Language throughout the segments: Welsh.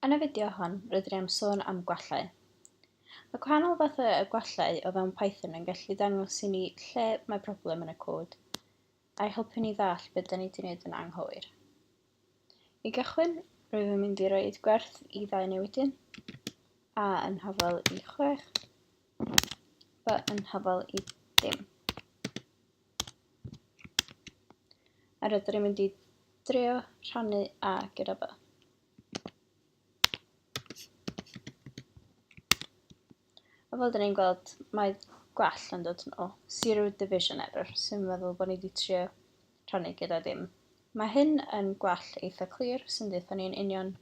Yn y fideo hon, rydyn ni am sôn am gwallau. Mae gwahanol fathau o gwallau o fewn Python yn gallu dangos i ni lle mae problem yn y cod, a'i helpu ni ddall beth da ni wedi wneud yn anghywir. I gychwyn, rwyf yn mynd i roi gwerth i ddau newidyn, a yn hafel i 6, b yn hafel i dim. A rydyn ni'n mynd i drio rhannu A gyda fo. A fel dyn ni'n gweld, mae gwell yn dod yn ôl. Zero division error, sy'n meddwl bod ni wedi trio rhannu gyda dim. Mae hyn yn gwell eitha clir, sy'n dweud ni'n union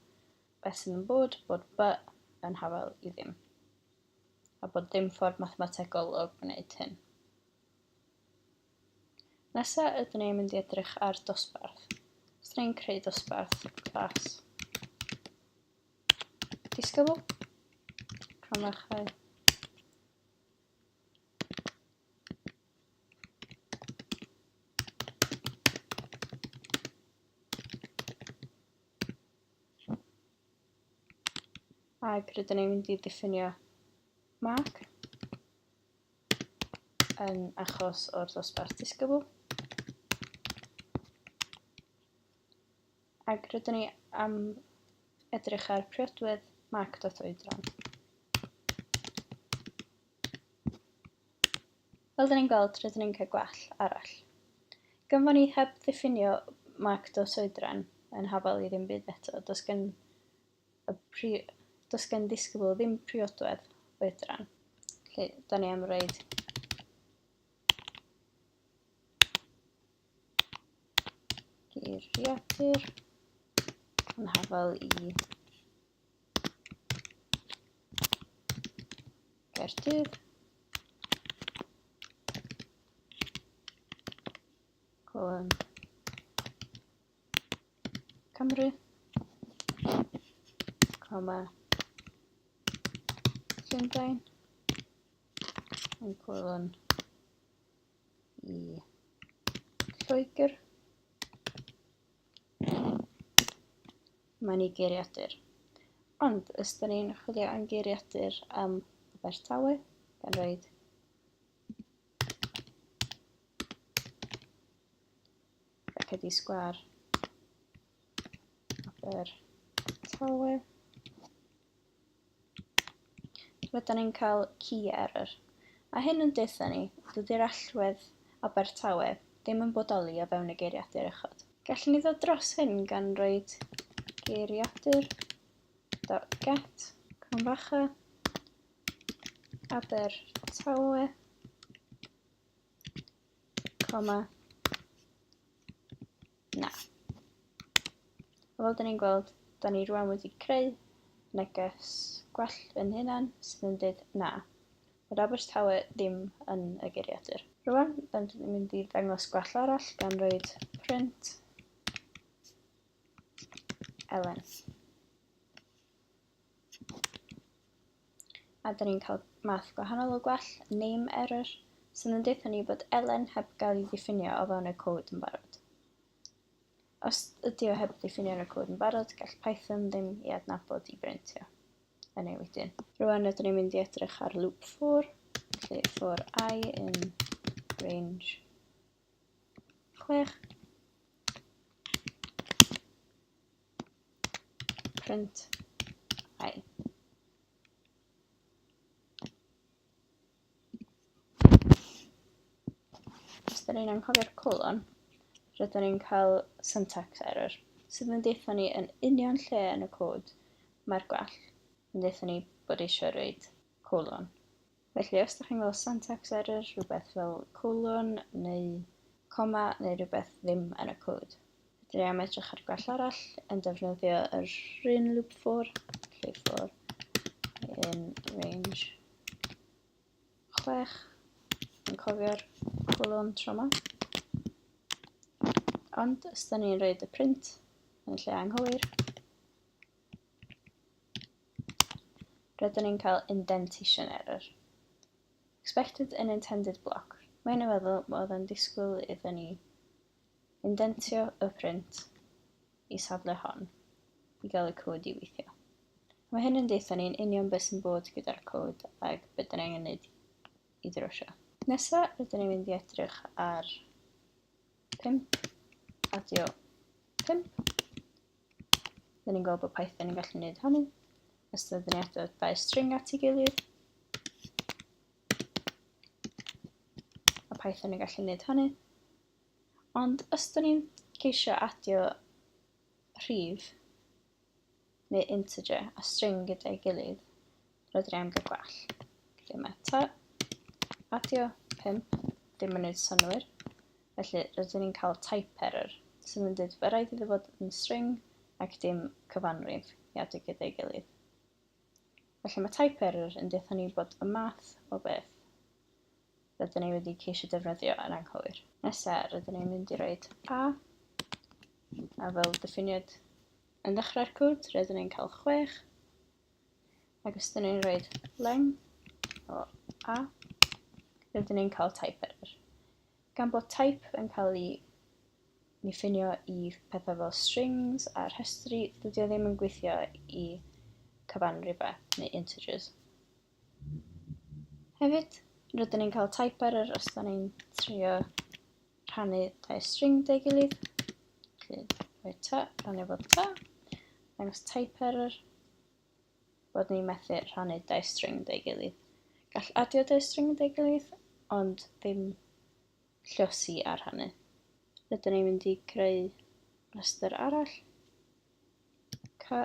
beth sy'n bod, bod B yn hafel i ddim. A bod dim ffordd mathemategol o gwneud hyn. Nesa ydyn ni'n mynd i edrych ar dosbarth. Os ni'n creu dosbarth, class. Disgybl. Cronfachau. Ac rydyn ni'n mynd i ddiffinio mark. yn achos o'r ddosbarth disgybl. Ac rydyn ni am edrych ar priodwedd marc dot oedran. Fel dyn ni'n gweld, rydyn ni'n cael gwell arall. Gynfon ni heb ddiffinio marc dot oedran yn hafal i ddim byd eto, does gen y pri... does gen ddisgybl ddim priodwedd oedran. Felly, da ni am reid geiriadur yn hafal i Gaerdydd. Colon. Cymru. Coma. Llundain. Yn cwylwn i Lloegr. Mae'n i geiriadur. Ond, os da ni'n chwilio am geiriadur am Abertawe, gan roed Cedi Sgwar, Aber Tawe. Rydan ni'n cael key error. A hyn yn deutha ni, dydy'r allwedd Abertawe ddim yn bodoli o fewn y geiriadur uchod. Gallwn ni ddod dros hyn gan roed geiriadur dot get cromfacha Abertawe Coma. Na. Fel dyn ni'n gweld, da ni rwan wedi creu neges gwell yn hynna'n sydd yn dweud na. Bod Abertawe ddim yn y geiriadur. Rwan, da ni'n mynd i ddangos gwell arall gan roed print Elen. A da ni'n cael math gwahanol o gwell, name error, sydd yn deutha ni bod elen heb gael ei ddiffinio o fewn y cod yn barod. Os ydy o heb ddiffinio yn y cod yn barod, gall Python ddim i adnabod i brintio yn ei wedyn. Rwan ydyn ni'n mynd i edrych ar loop for, lle for i yn range Chwech. Print. Hai. Os da ni'n anghofio'r colon, rydyn ni'n cael syntax error, sydd yn deitha ni yn union lle yn y cod mae'r gwell yn deitha ni bod eisiau rhaid colon. Felly, os ydych chi'n gweld syntax error, rhywbeth fel colon neu coma neu rhywbeth ddim yn y cod. Rydyn ni am edrych ar gwell arall yn defnyddio yr un loop for, lle for in range 6, yn cofio'r colon trauma. Ond os da ni'n rhaid y print yn lle anghywir, Rydyn ni'n cael indentation error. Expected an intended block. Mae hyn yn feddwl bod yn disgwyl iddyn ni indentio y print i safle hon i gael y cod i weithio. Mae hyn yn deitha ni'n union beth sy'n bod gyda'r cod ac beth dyn angen wneud i drwsio. Nesa, rydyn ni'n mynd i edrych ar 5, adio 5. Dyn ni'n gweld bod Python yn gallu gwneud hynny. Os dyn ni'n adio dau string at ei gilydd. A Python yn gallu gwneud hynny. Ond os dyn ni'n ceisio adio rhif, neu integer a string gyda'i gilydd, rydyn ni am gael gwell. Dim eto. Adio 5, dim yn gwneud synwyr. Felly, rydyn ni'n cael type error, sydd yn dweud fe rhaid iddo fod yn string ac dim cyfanrif i adio gyda'i gilydd. Felly mae type error yn dweud ni bod y math o beth rydyn ni wedi ceisio defnyddio yn anghywir. Nesa, rydyn ni'n mynd i roed a, a fel diffiniad yn ddechrau'r cwd, rydyn ni'n cael 6, ac os ydyn ni'n roed leng o a, rydyn ni'n cael type error. Gan bod type yn cael ei ni ffinio i pethau fel strings a rhestri, dydy o ddim yn gweithio i cyfan rhywbeth neu integers. Hefyd, rydyn ni'n cael type error os da ni'n trio rhannu dau string dau gilydd. Felly, rhoi ta, rhannu bod ta. Dangos type error bod ni'n methu rhannu dau string dau gilydd. Gall adio dau string dau gilydd, ond ddim llosi a rhannu. Rydyn ni'n mynd i greu rhestr arall. Ca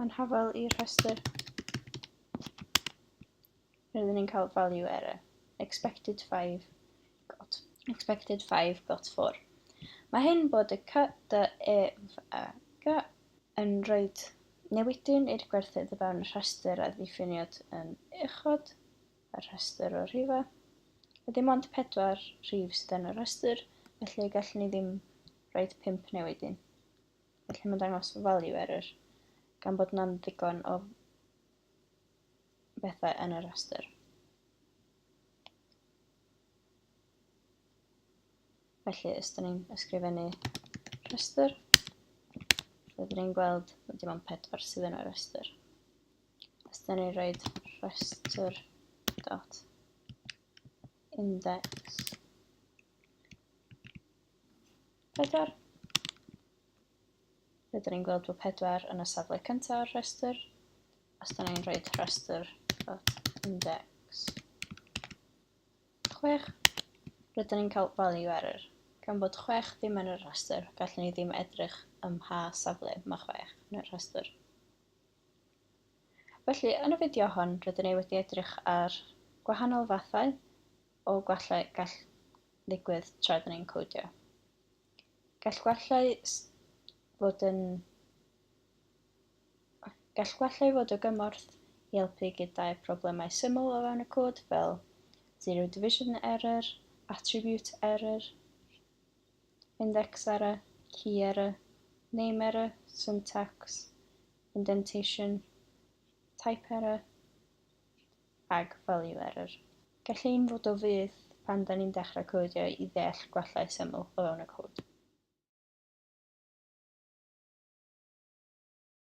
Mae'n hafal i'r rhestr. Rydyn ni'n cael value error. Expected 5 got. Expected 5 got 4. Mae hyn bod y cy, dy, e, f, a, g yn rhoi newidyn i'r gwerthydd o fewn y rhestr a ddiffiniad yn uchod y rhestr o rhifau. Mae dim ond 4 rhif sydd yn y rhestr, felly gallwn ni ddim rhoi 5 newidyn. Felly mae'n dangos value error gan bod na'n ddigon o bethau yn y rhestr. Felly, os da ni'n ysgrifennu rhestr, rydyn ni'n gweld bod dim ond pedwar sydd yn y rhestr. Os da ni'n rhoi rhestr dot index 4. Rydyn ni'n gweld bod 4 yn y safle cyntaf o'r rhestr. Os da ni'n rhoi rhestr dot index 6, rydyn ni'n cael value error. Gan bod 6 ddim yn y rhestr, gallwn ni ddim edrych ym mha safle mae 6 yn y rhestr. Felly, yn y fideo hon, rydyn ni wedi edrych ar gwahanol fathau o gwallau gall ddigwydd tra rydyn ni'n codio. Gall gwallau fod yn Gall gwallau fod o gymorth i helpu gyda'r problemau syml o fewn y cod fel zero division error, attribute error, index error, key error, name error, syntax, indentation, type error, Ag value error. Gall hyn fod o fudd pan da ni'n dechrau codio i ddeall gwellau syml o fewn y cod.